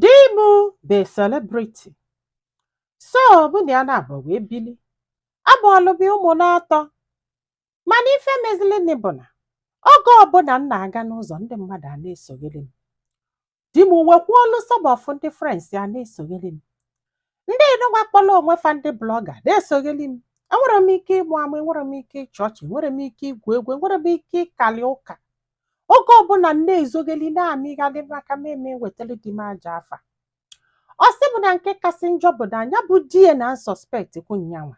Di m bụ a celebrity. So mụ na ya na-abọ wee bili. Amụọlụ m ya ụmụ n'atọ. Mana ife mezilinị bụ na oge ọbụla m na-aga n'ụzọ ndị mmadụ a na-esogheri m. Di m wekwuolu some of ndị friends ya na-esogheri m. ndị nụnwa kpọrọ onwe fa ndị blogger na-esogheli m enwere m ike ịmụ amụ enwere m ike ịchị ọchị enwere m ike igwu egwu enwere m ike ịkali ụka oge ọbụla m na-ezogheli na-amịghalị maka m eme wetara di m ajọ afa ọ sị m na nke kasị njọ bụ na nya bụ di ya na-asuspect kwu nyanwa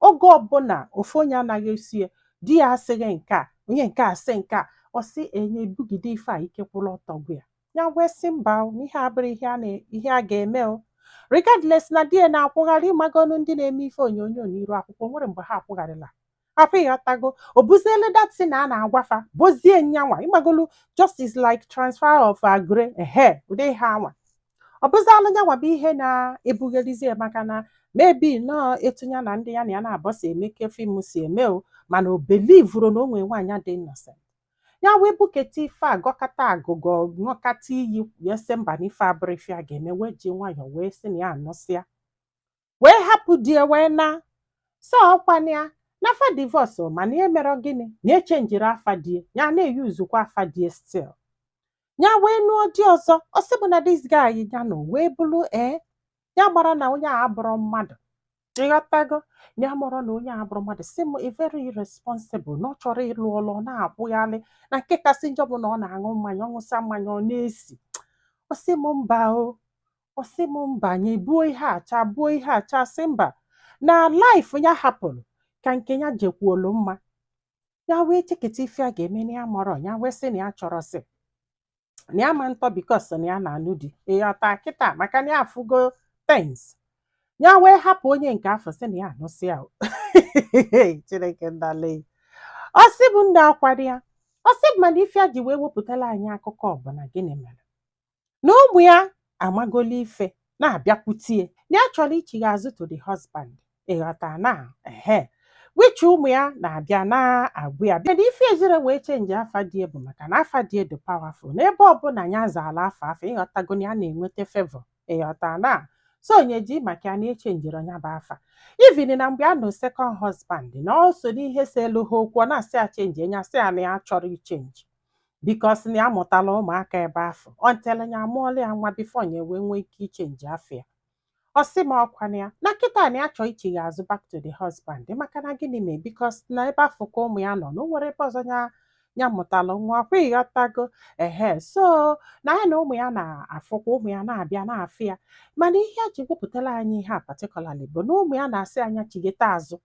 oge ọbụla ofu onye anaghị esi ya di ya asịghị nke a onye nke a sị nke a ọ sị nya bugide ife a ike kwụrụ ọtọ gwụ ya ya wee sị mba o, na ihe a abụrọ ihe a na- ihe a ga-eme o regardless na di ya na-akwụgharị ị magonu ndị na-eme ife onyonyo n'iru akwụkwọ nwere mgbe ha akwụgharịla hapụ ịghọtago o buzielu that thing a a na-agwa fa bozie nyanwa ị magolu just like transfer of agre ehe ụdị ihe anwa ọ bụzịa nyanwa bụ ihe na-ebugherizi ya maka na maybe nọọ etu ya na ndị ya na ya na-abọ si eme ka film si eme o mana o believerọ na o nwee nwaanyị dị innocent ya wee buketa ife a gọkata agụgọ ṅụkata iyi wee sị mba na ife a abụrọ ife a ga-eme wee ji nwayọọ wee sị na ya anụsịa wee hapụ di ya wee na so ọkwana ya na fa divorce mana ya emerọ gịnị na echenjirọ afa di ya ya na-eyuzukwa afa di ya still ya wee nụọ di ọzọ ọ sị m na this guy ya nọ wee bulu ee ya amarọ na onye a abụrọ mmadụ ịghọtago ya amarọ na onye a abụrọ mmadụ sị m na very irresponsible na ọ chọrọ ịlụ ọlụ ọ na-akwụghalị na nke kasị njọ bụ na ọ na-aṅụ mmanya ọ ṅụsịa mmanya ọ na-esi ọ sị m mba o ọ sị m mba nya buo ihe a chaa buo ihe a chaa sị mba na life ya hapụrụ ka nke ya jekwuolu mma ya wee cheketa ife ya ga-eme na ya amarọ ya wee sị na ya chọrọ sị na ya ma ntọ because na ya na-anụ di ịghọta kịta maka na ya afụgo things ya wee hapụ onye nke afụ sị na ya anụsịa chineke ndale ọ sị m ndị akwado ya ọ sị m mana ife ya ji wee wepụtala anyị akụkọ bụ na gịnị mere na ụmụ ya amagolu ife na-abịakwute ya ya chọrọ ichigha azụ to the husband ịghọta na ehe which ụmụ ya na-abịa na-agwa ya bịa na ife ejirọ wee chenji afa di ya bụ maka na afa di ya dị powerful n'ebe ọbụla ya zalụ afa afụ ịghọtago na ya na-enweta favor ịghọta na so nya ji maka ya na-echenjirọ nya bụ afa even na mgbe a nọ second husband na o so n'ihe seelu ha okwu ọ na-asị ya chenji nya asị ya na ya achọrọ ichenji because na ya mụtala ụmụaka ebe afụ ọ until ya amụọla ya nwa before ya wee nwee ike ichenji afa ya ọ sị m ọkwa na ya na kịta na ya chọọ ichigha azụ back to the husband maka na gịnị mee because na ebe afụ ka ụmụ ya nọ na o nwerọ ebe ọzọ ya mụtala nwa ọkwa ịghọtago ehe so na ya na ụmụ ya na-afụkwa ụmụ ya na-abịa na-afụ ya mana ihe a ji wepụtara anyị ihe a particularly bụ na ụmụ ya na-asị ya nya chigheta azụ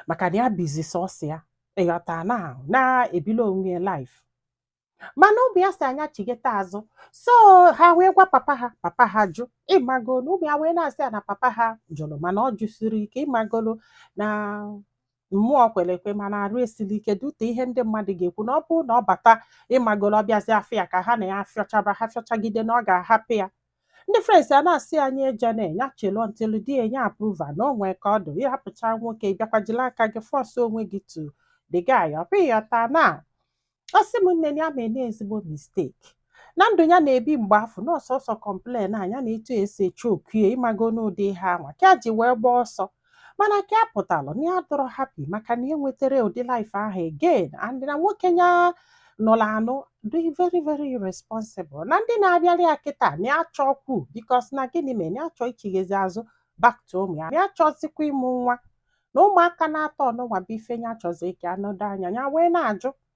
maka na ya bizi sọsọ ya ịghọta na na-ebili onwe ya life mana ụmụ ya sị ya nya chigheta azụ so ha wee gwa papa ha papa ha jụ ịmago na ụmụ ya wee na-asị ya na papa ha jụrụ mana ọ jụsirọ ike ịmagolo na mmụọ kwere ekwe mana arụ esirọ ike due to ihe ndị mmadụ ga-ekwu na ọ bụrụ na ọ bata ịmagolo ọ bịazi afịa ka ha na ya afịọchaba ha fịọchagide na ọ ga-ahapụ ya ndị friends ya na-asị ya nya ejene ya chelu until di ya nye approval na o nwe ka ọ dụ ị hapụcha nwoke bịakwa jili aka gị force onwe gị to the guy ọ bụ ịghọta na ọ sị m nne ya meena ezigbo mistake na ndụ ya na-ebi mgbe afụ na ọ sọsọ complain nya na etu esi eche okie ịmago n'ụdị ihe anwa ka ya ji wee gbaa ọsọ mana ka ya pụtalụ na ya adụrọ happy maka na ya enwetarọ ụdị life ahụ again and na nwoke ya nụrụ anụ dị very very irresponsible na ndị na-abịara ya kịta na ya achọọkwu because na gịnị mere na ya chọọ ichighazi azụ back to ụmụ ya na ya chọzikwa ịmụ nwa na ụmụaka n'atọ ọnụnwa bụ ife ya chọzi ka anọdụ anya ya wee na-ajụ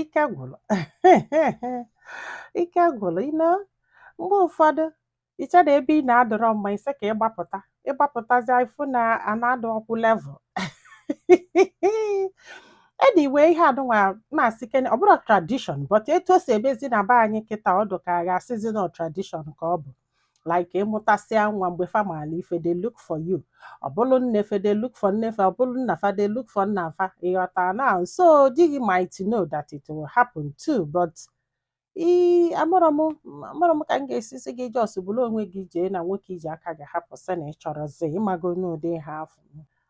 ike gwụrụ ike gwụrụ you know mgbe ụfọdụ ị chee na ebe ị nọ adụrọ mma ị sị ka ị gbapụta ị gbapụtazi ị fụ na ana adụọkwụ level anyway ihe anụnwa m asịkene ọ bụrọ tradition but etu o si emezi na be anyị kịta ọ dụ ka a ga-asịzi na ọ tradition ka ọ bụ like ị mụtasịa nwa mgbe fa maalụ ife they look for you ọ bụrụ nne fa they look for nne fa ọ bụrụ nna fa they look for nna fa ịghọta na so di gị might know that it will happen too but ee amarọ m amarọ m ka m ga-esi sị gị just buru onwe gị jee na nwoke i ji aka gị hapụ sị na ị chọrọzi ịmago n'ụdị ihe afụ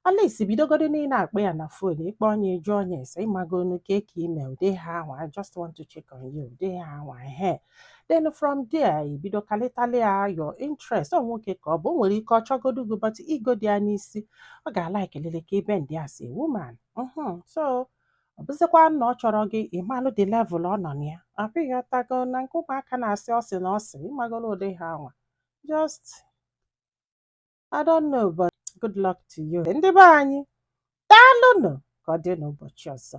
at least bidogodo na ị na-akpọ ya na fon ị kpọọ nya ị jụọ nya ese ịmagonu kee ka ị me ụdị ihe anwa I just want to check on you ụdị ihe anwa ehe then from there i bido kalịtalị ya your interest ọ nwoke ka ọ bụ o nwere ike ọ chọgodu gị but igo dị ya n'isi ọ ga-alaiki lele ka ibe ndị a si woman mhm so ọ bụzịkwa na ọ chọrọ gị ị malụ the level ọ nọ na ya ọ bụ ịghọtago na nke ụmụaka na-asị ọ sị na ọ sị ịmagolo ụdị ihe anwa just I don't know but good luck to you ndị be anyị daalụnụ ka ọ dị n'ụbọchị ọzọ